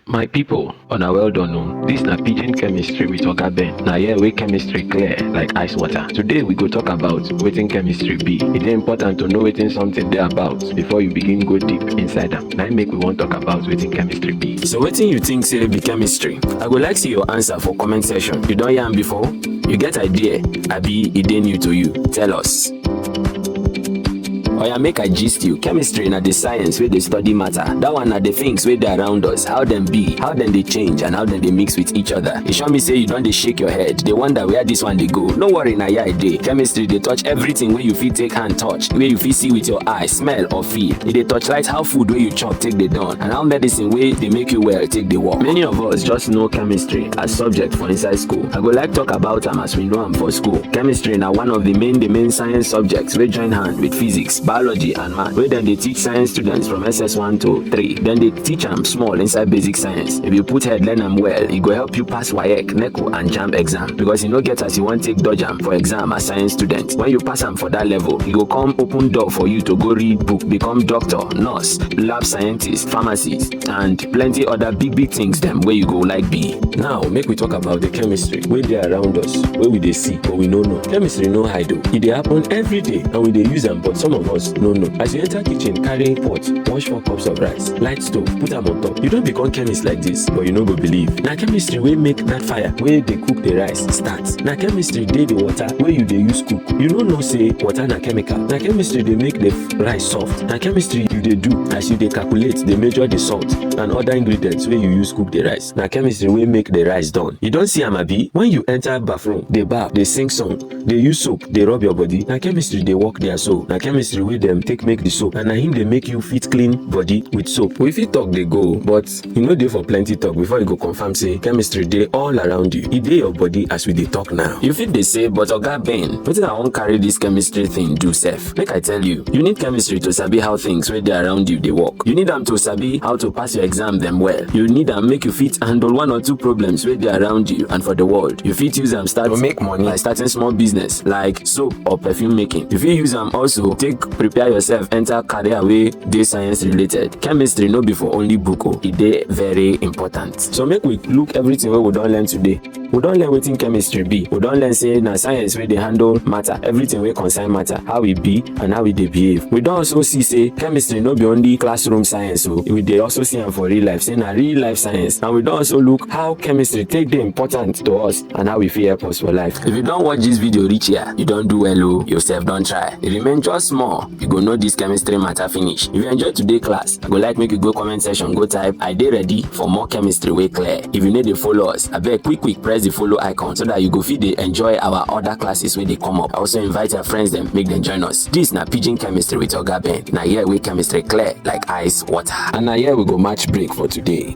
My people, una well done o. This na pidgin chemistry with Oga Ben. Na here wey chemistry clear like ice water. Today we go talk about wetin chemistry be. E dey important to know wetin something dey about before you begin go deep inside am. Na im make we wan talk about wetin chemistry be. So wetin you think say be chemistry? I go like see your answer for comment section. You don hear am before? You get idea? Abi e dey new to you? Tell us. oya make i gist you chemistry na the science wey dey study matter that one na the things wey dey around us how dem be how dem dey change and how dem dey mix with each other e sure me say you don dey shake your head dey wonder where this one dey go no worry na here i dey chemistry dey touch everything wey you fit take hand touch wey you fit see with your eye smell or feel e dey torchlight how food wey you chop take dey done and how medicine wey dey make you well take dey work many of us just know chemistry as subject for inside school i go like talk about am as we know am for school chemistry na one of the main the main science subjects wey join hand with physics biology and math wey dem dey teach science students from ss1 to 3 dem dey teach am small inside basic science if you put head learn am well e go help you pass waec neco and jamb exam because e no get as you wan take dodge am for exam as science student when you pass am for that level e go come open door for you to go read book become doctor nurse lab scientist pharmacist and plenty other big big things them where you go like be. Now make we talk about the chemistry where they around us, where we they see but we no know. Chemistry no hide o, e dey happen every day and we dey use am but some of us no know. As you enter kitchen carry pot, wash four cups of rice, light stove, put am on top. You don't become chemist like this but you no go believe. Na chemistry wey make that fire wey dey cook the rice start. Na chemistry dey the water wey you dey use cook. You no know say water na chemical. Na chemistry dey make the rice soft na chemistry you dey do as you dey calculate dey measure the salt and other ingredients wey you use cook the rice na chemistry wey make the rice done you don see am abi when you enter bathroom dey baff dey sing song dey use soap dey rub your body na chemistry dey work there so na chemistry wey dem take make the soap and na him dey make you fit clean body with soap we fit talk dey go but e no dey for plenty talk before you go confirm say chemistry dey all around you e dey your body as we dey talk now you fit dey say but oga ben wetin i wan carry dis chemistry thing do sef make i tell you you need chemistry to sabi how things wey dey around you dey work you need am to sabi how to pass your exam dem well you need am make you fit handle one or two problems wey dey around you and for the world you fit use am start to make money by starting small business like soap or perfume making. You fit use am also take prepare yourself enter career wey dey science related. Chemistry no be for only book o, e dey very important. So make we look everything wey we don learn today. We don learn wetin chemistry be. We don learn say na science wey dey handle matter, everything wey concern matter, how e be and how e dey behave. We don also see say chemistry no be only classroom science o, we dey also see am for real life say na real life science and we don also look how chemistry take dey important to us and how e fit help us for life. If you don watch this video reach here, you don do well o, oh. yourself don try. If you remain just small, you go know this chemistry matter finish. If you enjoy today class, I go like make you go comment section go type I dey ready for more chemistry wey clear. If you no dey follow us, abeg quick quick press the follow icon so that you go fit dey enjoy our other classes wey dey come up. I also invite your friends dem make dem join us. This na pidgin chemistry with Oga Ben. Na here wey chemistry clear like ice water. And na here we go match break for today.